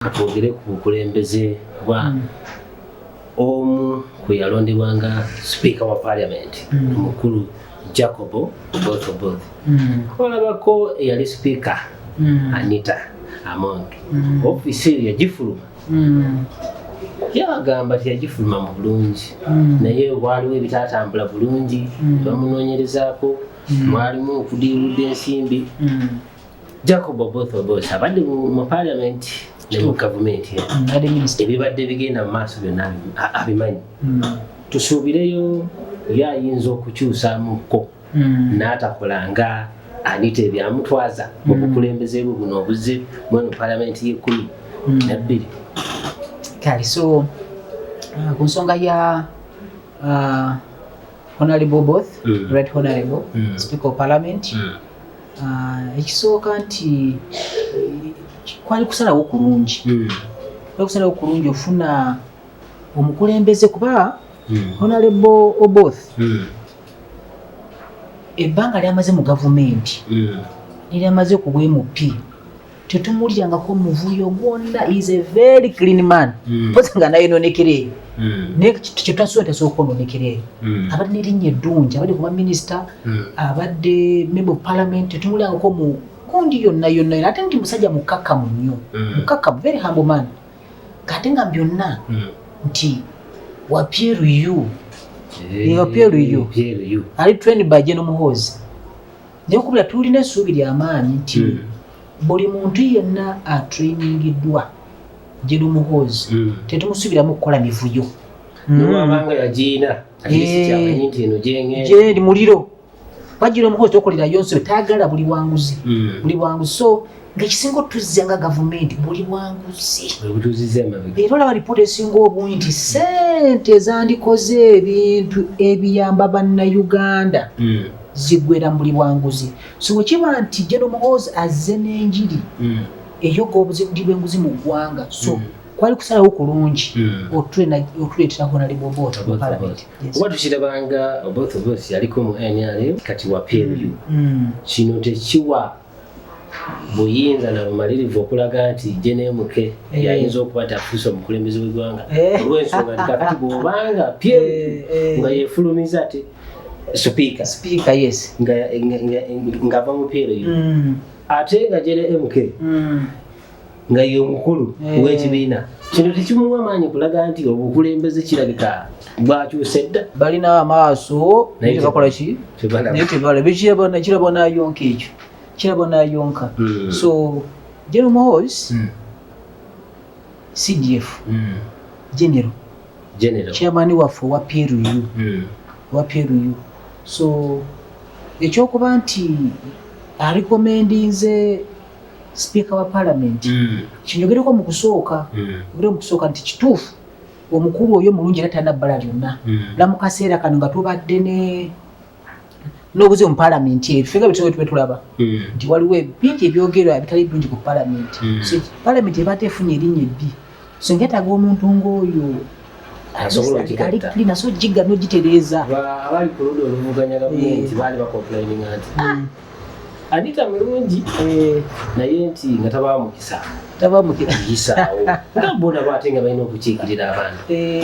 katwogere ku bukulembeze bwa hmm. omu kwe yalondebwa nga sipiika wa parliament hmm. omukulu jacob botoboth hmm. olabako eyali sipiika anita among ofisi eyo yagifuluma yabagamba nti yagifuluma mu bulungi naye waliwo ebitatambula bulungi bamunonyerezaako mwalimu okudiirudde ensimbi Jacob Oboth Oboth abadde mu parliament ne mu gavumenti mm, ebibadde bigenda mu maaso byonna abimanyi mm. tusuubireyo ye ayinza okukyusamuko mm. n'atakola nga anita ebyamutwaza mu bukulembeze bwe buno obuze mweno parliament y'ekkumi nabbiri kale so uh, ku nsonga ya Uh, honorable both mm. right honorable mm. speaker of parliament mm. uh, ekisooka nti kwali kusalawo kulungi mm. kwali kusalawo kulungi ofuna omukulembeze kuba mm. honorable oboth mm. ebbanga lyamaze mu gavumenti mm. lyamaze ku bwemupi tetumulyangako muvuyo gwonna is a very clean man mm. pozi nga nayononekera eyo mm. naye kyetwasuba tasobola okwononekera eyo mm. abadde nerinnya eddungi abadde kuba minisita abadde member of parliament tetumulyangako mu kundi yonna yonna era ate nti musajja mukakamu nnyo mukakamu very humble man kate nga byonna nti wapyeru yu wapyeru yu ali trained by general muhoozi Nyakubira tulina essuubi lya maanyi nti hmm. buli muntu yenna atrainingiddwa General Muhoozi hmm. tetumusuubiramu okukola mivuyo nowabanga hmm. yagiyina gyendi eh, muliro bajira omukozi tokolera yonse tayagala buli wanguzi buli wanguzi so ngaekisinga otuzza nga gavumenti buli bwanguzi era olaba lipoota esinga obungi nti sente ezandikoze ebintu ebiyamba bannayuganda hmm. zigwera mubuli bwanguzi so wekiba nti jenomuhoozi azze n'enjiri hmm. eyoga obuzibudi bwenguzi mu ggwanga so hmm. kwali kusalawo kulungi otuleetera honaleboboota mu palamenti oba tukirabanga oboth of us yaliko mu nrm kati wa pmu kino tekiwa buyinza na bumalirivu okulaga nti je nemuke eh. yayinza okuba nti afuuse omukulembeze wegwanga eh. olwensonga nti kakati bwobanga pye eh, nga yefulumiza ati sipiika sipiika yes ngava mu pyero yo mm. ate nga jene mk mm. nga ye omukulu eh. w'ekibiina kino tekimuwa maanyi kulaga nti obukulembeze kirabika bwakyusa edda balina amaaso naye tebakola ki naye tebala bekirabona kirabo nayonka ekyo kirabo nayonka hmm. so general mohos hmm. cdf hmm. general chairman waffe owa pru owa pru so ekyokuba nti alikomendinze sipiika wa palamenti mm. kinyogereko mu kusooka mm. ogere mu kusooka nti kituufu omukulu oyo mulungi era talina bbala lyonna mm. la mu kaseera kano nga tubadde ne n'obuzibu mu palamenti ebyo fenga bitube tube tulaba nti waliwo bingi ebyogerwa bitali birungi ku palamenti so palamenti ebadde efunye erinnya ebbi so nkyetaaga omuntu ng'oyo ali kulina so jigga nogitereeza abali ku luda oluvuganya gavumenti eh. baali bakomplaininga nti ah, hmm. anita mulungi eh. naye nti nga tabaa mukisa tabaa mukisa yisaawo nga bona baate nga balina okukiikirira abantu eh.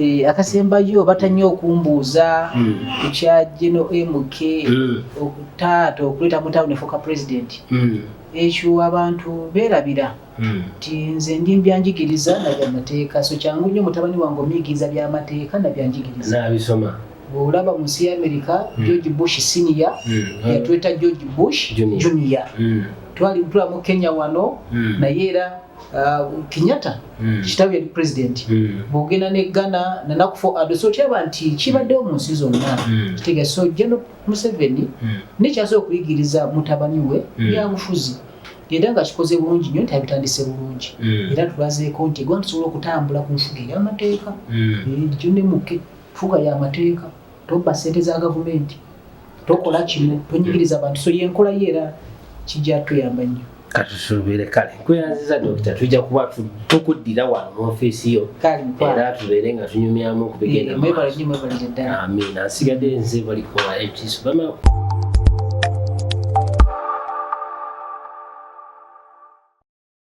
Eh, akasembayo batanye okumbuuza hmm. ku kya geno mk hmm. okutaata okuleeta mu tawuni efuuka pulezidenti hmm. ekyo abantu beerabira nti nze ndi mbyanjigiriza na byamateeka so kyangu nnyo mutabani wange omuyigiriza byamateeka na byanjigiriza nabisoma bwolaba mu nsi ya amerika george bush siniya yatweta george bush junior twali tulamu kenya wano naye era Uh, kenyatta mm. kitabu yali president mm. bwogenda ne ghana nanakufo ado so okyaba nti kibaddewo mu nsi zonna mm. kitega so jeno museveni mm. nekyasobola okuyigiriza mutabani we mm. yabufuzi era nga kikoze bulungi nyo nti abitandise bulungi mm. era tulazeeko nti egwanga tusobola okutambula ku nfuga eyamateeka mm. eh, jondemuke nfuga yamateeka tobba sente za gavumenti tokola kino tonyigiriza bantu so yenkola ye era kijja tuyamba nnyo katusuubire kale nkweyanziza dokita tujja kuba tukuddira wano mu ofiisi yo era tubeere nga tunyumyamu okubigendaamina nsigadde nze balikola ekisu bama